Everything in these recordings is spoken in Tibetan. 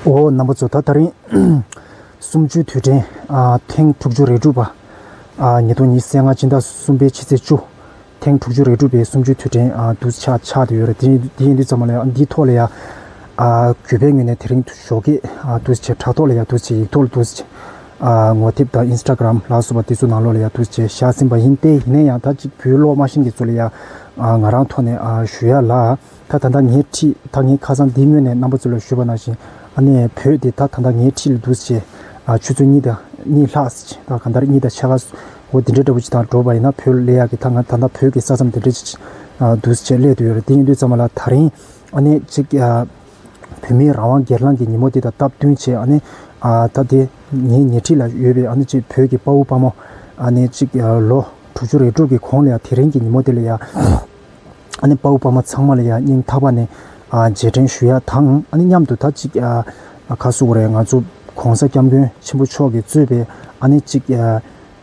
འོ་ན་པོ་ཚོ་ད་ད་རིང་གསུམ་བཅུའི་དུས་དྲན་ཐེངས་དྲུག་ཅུ་རེ་དྲུག་པ། ཉིས་སྟོང་ཉིས་སེ་ལྔ་ཕྱི་ཟླ་གསུམ་པའི་ཕྱི་ཚེས་བཅུ། ཐེངས་དྲུག་ཅུ་རེ་དྲུག་པའི་གསུམ་བཅུའི་དུས་དྲན་དུ་ཆགས་ཆགས་ཡོད་རེད། དེ་ཡིན་དུས་ཚང་མ་ལ་ཡང་འདིའི་ཐོག་ལ་ཡང། གུས་པའི་ངོས་ནས་དེ་རིང་ཞོགས་ཀྱི་དུས་ཆེ་དྲ་ཐོག་ལ་ཡང་དུས་ཆེ་ཡིག་ཐོག་ལ་དུས་ཆེ། ངོ་དེབ་དང Instagram ལགས་སོ་པ་དེ་ཚོ་ནང་ལོགས་ལ་ཡང་དུས་ཆེ་བཞག་ཟིན་པ་ཡིན་ཏེ་ཡིན་ན་ཡང་ད་ཅིག་བུའི་ལོག་སྨྲ་ཤིང་གི་ཚོ་ལ་ཡང་ང་རང་ཐོག་ནས་ཞུ་ཡ་ལགས། ད་ད་ད་ངའི་འཁྲིས་ད་ངའི་ཁ་སང་འདིའི་སྔོན་ནས་རྣམ་པ་ཚོ་ལ་ཞུ་བ་ནང་བཞིན་ཨ་ནེ་བོད་དེ་ད་ད་ད་ངའི་འཁྲིས་ལ་འདུག་ཟེར། ཆུ་ཚོད་གཉིས་དང་གཉིས་ལྷག་ཟེར་གང་ལྟར་གཉིས་དང་ཕྱེད་ལྷག་འོ་དེ་འདྲའི་འདྲ་བོ་ཅིག་དང་འགྲོ་བ་ཡིན་ན་བོད་ལས་ཡག་གི་ད་ང་ད་ད་བོད་ཀྱི་ས་མཚམས་འདི་འདྲ་ཅིག་འདུག་ཟེར་བྱས་སླད་དུ་ཡོད་རེད་དེ་ཡིན་དུས་ཙམ་མ་ལ་ད་རིང་ཨ་ནེ་ཅིག་བོད་མིའི་རང་དབང་སྒེར་ལངས་ཀྱི་ཉིན་མོ་དེ་དང་སྟབས་བསྟུན་བྱས་ཨ་ནེ་ད་དེ་ངའི་ཉེ་འཁྲིས་ལ་ཡོད་པའི་ཨ་ནེ་ཅིག་བོད་ཀྱི་དཔའ་བོ་དཔའ་མོ་ཨ་ནེ་ཅིག་ལོ་དྲུག་ཅུ་རེ་དྲུག་གི་གོང་ལ་ཡང་དེ་རིང་གི་ཉིན་མོ་དེ་ལ་ཡང། ཨ་ནི་དཔའ་བོ་དཔའ་མོ་ཚང་མ་ལ་ཡང་སྙིང་ཐག་པ་ནས་རྗེས་དྲན་ཞུ་ཡག་དང་ཨ་ནི་མཉམ་དུ་ད་ཅིག་ཁ་གསོ་བོ་རེད་ང་ཚོ ྋགོང་ས ྋསྐྱབས་མགོན་ཆེན་པོ་མཆོག་གིས་གཙོས་པའི་ཨ་ནི་གཅིག་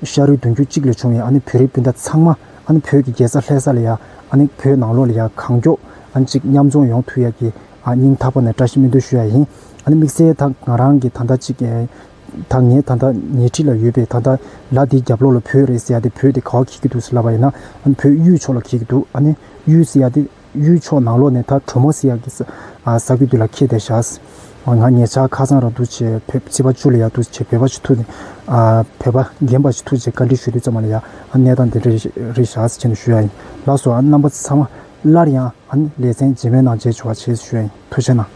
ཤ་རུས་བདུན་རྒྱུད་གཅིག་ལས་བྱུང་བའི་ཨ་ནི་བོད་རིགས་སྤུན་ཟླ་ཚང་མ་ཨ་ནི་བོད་ཀྱི་རྒྱལ་ས་ལྷས་ས་ལ་ཡང་ཨ་ནི་བོད་ནང་ལོགས་ལ་ཡང་གང་མགྱོགས་ཨ་ནི་གཅིག་མཉམ་འཛོམས་ཡོང་ཐུག་ཡག་གི་སྙིང་ཐག་པ་ནས་བཀྲ་ཤིས་སྨོན་འདུན་ཞུ་ཡག་ཡིན་ཨ་ནི་དམིགས་བསལ་ད་ང་རང་གིས་ད་ད་ཅིག་ད་ངས་ད་ལྟ་ཉེ་འཁྲིས་ལ་ཡོད་པའི་ད་ལྟ་ལ་དེའི་རྒྱབ་ལོགས་ལ་བུད་རེད་ཟེར་ཡ་དེ་བུད་དེ་ག་བ་གྱིས་ཀྱི་འདུག་ཟེར་ལབ་པ་ཡིན་ན་བུད་གཡུའི་ཕྱོགས་ལ་གྱིས་ཀྱི་འདུག་ཨ་ནི་གཡུའི་ཟེར་ཡ་དེ་གཡུའི་ཕྱོགས་ནང་ལོགས་ནས་ད་གྲོ་མོ་ཟེར་ཡ་གི་ཟ་གི་དུས་ལ་ཁེལ་བསྡད་བཞག་ང་ཉེ་ཆར་ཁ་སང་ར་འདུག་ཆེ་བོད་སྤྱི་པ་བཅུ་ལ་ཡ་འདུག་ཆེ་བོད་པ་ཆེ་ཐུག་བོད་པ་རྒན་པ་ཆེ་ཐུག་ཅེས་བཀའ་འདྲི་ཞུ་དུས་ཙམ་མ་ལ་ཡ་གནས་སྟངས་དེ་འདྲ་རེད་བཞག་ཅེས་ཞུ་ཡ་ཡིན་ལགས་སོ་རྣམ་པ་ཚང་མ་སླར་ཡང་ལེ་ཚན་རྗེས་མའི་ནང་མཇལ་བྱུང་བ་བྱས་ཞུ་ཡ་ཡིན་ཐུགས་ཆེ་གནང།